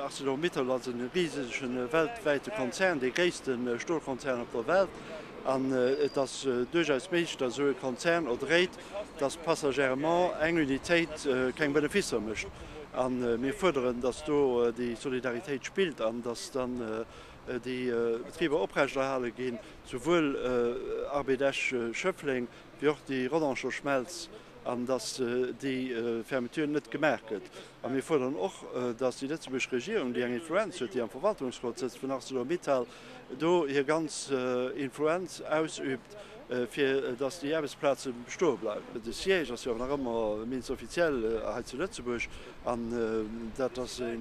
Arcelor-Mittal ass e risege weltwäite Konzern, dee gréisste Stolkonzern op der Welt. An et ass duerchaus méiglech, datt esou e Konzern erdréit, dass passagèrement eng Unitéit keng Beneficer mécht. A mir fuerderen, dass do déi Solidaritéit spillt an dass dann déi Betriber oprechterhale ginn, souwuel Arbed Esch Schëffleng wéi och déi Rodangersch Schmelz, an dass déi Fermeture net gemaach gëtt. A mir fuerderen och, dass déi lëtzebuergesch Regierung, déi eng Influenz huet, déi am Verwaltungsrot sëtzt vun Arcelor Mittal, do hir ganz Influenz ausübt, fir datt déi Aarbechtsplaze bestoe bleiwen. De Siège ass jo awer nach ëmmer d'Mins officiel hei zu Lëtzebuerg an dat ass e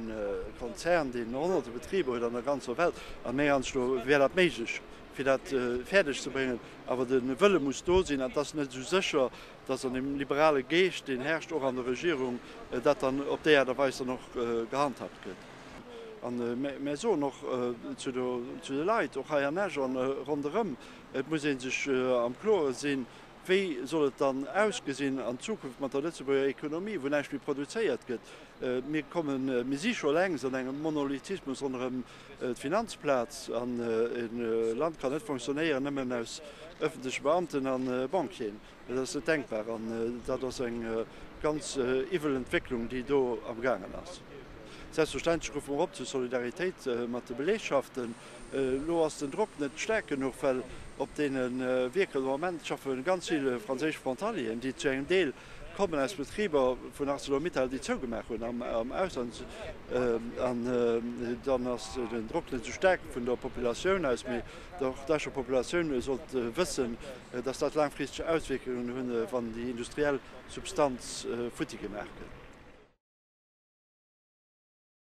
Konzern, deen Honnerte Betriber huet an der ganzer Welt. A meng Ansicht no wär dat méiglech, fir dat fäerdeg ze bréngen. Awer de Wëlle muss do sinn an et ass net esou sécher, datt an deem liberale Geescht, deen herrscht och an der Regierung, dat dann op déi Aart a Weis dann och gehandhaabt gëtt. A mär soen och zu de Leit, och hei an Esch a ronderëm, et muss ee sech am Kloren sinn, wéi soll et dann ausgesinn an Zukunft mat der Lëtzebuerger Ekonomie, wou näischt méi produzéiert gëtt. Mir kommen, mir si scho längst an engem Monolithismus ronderëm d'Finanzplaz an e Land kann net fonctionnéieren nëmmen aus ëffentleche Beamten a Banquieren. Dat ass net denkbar an dat ass eng ganz iwwel Entwécklung, déi do am gaangen ass. Selbstverständlech ruffe mer op zu Solidaritéit mat de Belegschaften. Elo ass den Drock net staark genuch, well op deene Wierker de Moment schaffe ganz vill franséisch Frontalieren, déi zu engem Deel kommen aus Betriber vun Arcelor-Mittal, déi zougemaach hunn am Ausland. An dann ass den Drock net esou staark vun der Populatioun aus. Mee och d'Escher Populatioun sollt wëssen, dass dat laangfristeg Auswierkungen hunn, wann déi industriell Substanz futti gemaach gëtt.